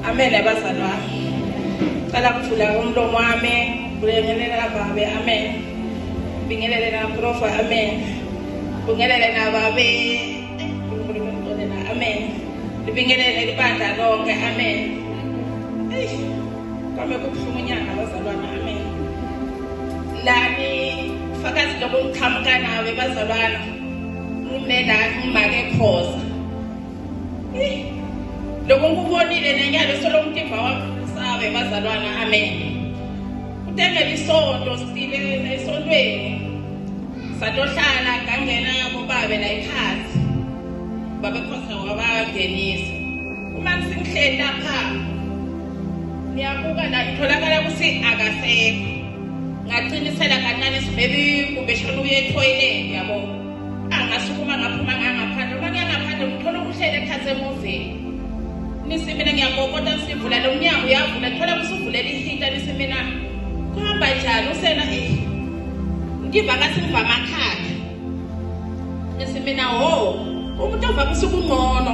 amele abazali wami cela kuvula umlomo wami kulengelela kababe amen bingelele naprofa amen bungelele nababe amen libingelele libandla lonke amen kwame kubuhlungu unyanga abazalwana amen lani fakazi lokuqhamuka nawe bazalwana Umena umake khoza. Lokho ngikubonile nenyalo solomtimba wami sabe bazalwana amen. Utengela isonto sile esontweni. Satohlala ngangena kubabe la ikhathi. Babe khoza wabangenisa. Uma singihleli lapha niyabuka la itholakala ukuthi akasekho. ngaqinisela kancane sibebi kumbe shona uye ethoyileti yabo angasukuma ngaphuma ngangaphandle uma ngiyangaphandle ngithola ukuhlele ekhathi emuveni nisi mina ngiyakokota sivula lo mnyango uyavula thola kusuvulela ihita nisi mina kuhamba njani usena eh, ngiva ngathi ngiva amakhanda nisi mina ho umuntu ovamisa ubungcono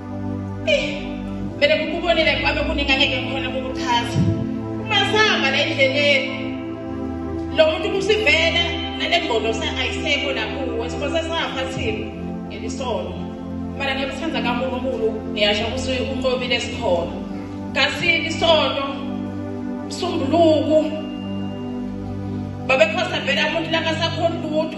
Mele kukubonile kwabe kuningi angeke ngikhona kukuchaza. Masihamba la endleleni. Lo muntu kusivela nalengqondo ayisekho nakuwe sibose safa thina ngelisono. Mara ngiyakuthanda kaNkulunkulu ngiyasho ukuthi unqobile sikhona. Kasini isono msumbuluku babekhosa vele abantu langasakhona lutho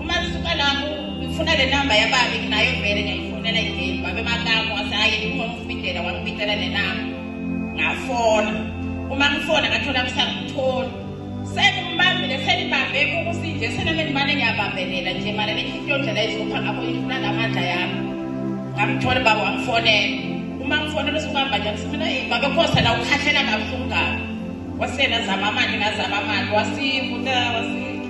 Uma lisuka lapho ngifuna le namba yababe nginayo vele ngiyayifonela igame babe makamu wase hayi ngifuna ukufidela wangibidela le namba ngafona uma ngifona ngathola kusangitholi sengibambile senibambe ukuthi nje sename ngimane ngiyabambelela nje mara lenhliziyo ndlela izopha ngakho ngifuna ngamandla yami ngamthola baba wangifonela uma ngifonela usibamba nje ngisimina eyi babe khosa la ukhahlela kabuhlungu kabi wasena zama amandla ngazama amandla wasivuta wasi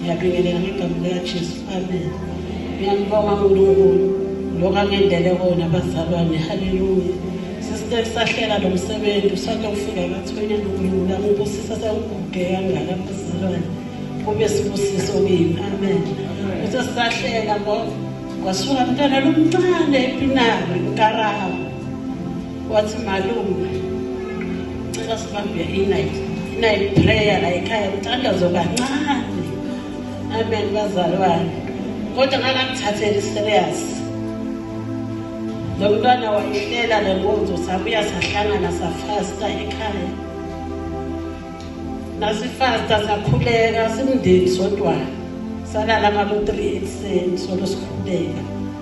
ngiyabingelela ngegama likajesu amen ngiyambonga unkulunkulu lokhu angenzele kona bazalwane haleluya sisike sahlela lo msebenzi usake ufika kathwenya nokulula ngibusisa sekuguge kangaka bazalwane kube sibusiso kimi amen kuthe sisahlela ngoba kwasuka mntwana lomncane epinari ukarawo wathi malume cela sibambe inight inight prayer la ekhaya kuthandazo kancane amen bazalwane kodwa ngangangithatheli serious lo mntwana wayehlela le nkonzo sabuya sahlangana safasta ekhaya nasifasta sakhuleka simndeni sodwana salala ngabo-three ekuseni solo sikhuleka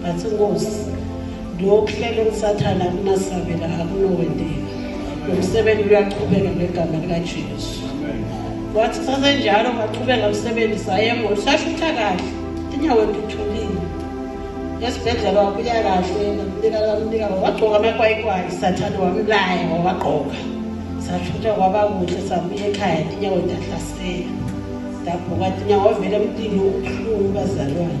ngathi nkosi lokuhlela usathana kunasabela akunowendeka nomsebenzi uyaqhubeka ngegama likajesu wathi sasenjalo ngaqhubeka msebenzi sayemoli sashutha kahle inyawo ngithulile esibhedlela wabuya kahle namnika kamnika wagqoka amakwayikwayi sathane wamlaya wawagqoka sashutha kwaba kuhle sabuya ekhaya inyawo ndahlasela ndabhuka inyawo wavele emntini ubuhlungu bazalwane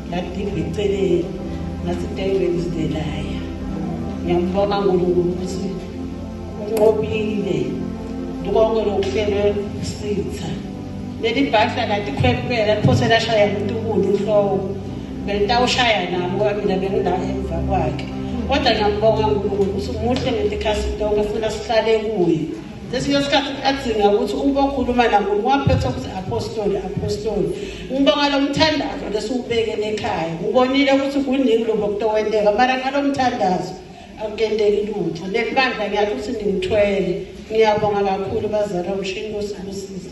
Ngadinga iceleni ngathi David is the liar. Ngiyambonga uNkulunkulu ukuthi unqobile konke lokuhlelwe sitha. Leli bhahla kanti khwempela liphose lashaya umuntu umuntu inhloko. Bentawushaya nami ngoba mina bengila emva kwakhe. Kodwa ngiyambonga uNkulunkulu ukuthi umuhle ngento ekhasi tonke futhi asihlale kuye. Ngesinye isikhathi kuyadzinga ukuthi uma ukhuluma nabo ngiwaphethe ukuthi apostoli apostoli ngibonga lo mthandazo lesiwubekele ekhaya ngibonile ukuthi kuningi lobo kutokwenteka mara ngalo mthandazo akukenteki lutho nelibandla ngiyathi ukuthi ningithwele ngiyabonga kakhulu bazala umshini kosibusiza